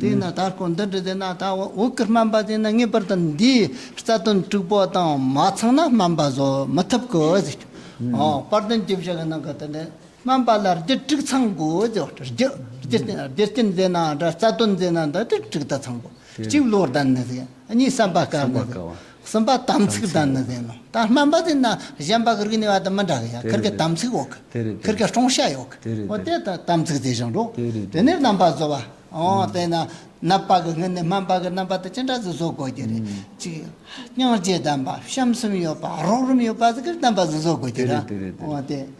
དེས་ན་ད་སྐོར་འདི་འབྲི་དེ་ན་ད་འོག་གི་སྨན་པ་དེ་ནི་ངེས་པར་དུ་འདིའི་རྩ་དོན་དཀྲུག་པ་དང་མ་ཚང་ན་སྨན་པ་བཟོ་མི་ཐུབ་དགོས་ཟེར། དཔར་དོན་བཅུ་བཞི་གི་ནང་གི་དོན་དེ་སྨན་པ་ལ་རྒྱུ་དཀྲུག་ཚང་དགོས་ཟེར་བ་རྒྱུ་རྒྱུ་རྐྱེན་མཛེས་ན་འདྲ་རྩ་དོན་མཛེས་ན་འདྲ་དཀྲུག་དཀྲུག་ད་ཚང་དགོས་གཅིག་བློར་ལྡན་ནི་ཟེར་གཉིས་བསམ་པ་དཀར་ནི་ཟེར་གསུམ་པ་དམ་ཚིག་དང་ནི་ཟན་ནོ། དང་སྨན་པ་དེ་ན་གཞན་པ་གིར་གི་ནི་བ་དང་མི་འདྲ་གི་ཡང་གིར་གི་དམ་ཚིག་འོག་གི་གིར་གི་སྐྲོང་བྱ་ཡོག་གི་འོ་དེ་དང་དམ་ཚིག་དེ་བཞིན་རོ། དེ་ནས་རྣམ་པ་བཟོ་བ་འོ་དེ་ན་ནད་པ་གི་ངི་ནི་སྨན་པ་གི་རྣམ་པ་དེ་ཅི་འདྲ་ཟི་བཟོ་དགོས་ཀྱི་རེ། ཅིག། སྙིང་རྗེ་ལྡན་པ་བྱམས་སེམས་ཡོད་པ་རོགས་རིམ་ཡོད་པ་ཟི་གིར་བསྟན་པ་ཟི་བཟོ་དགོས་ཀྱི་ར། འོ་དེ།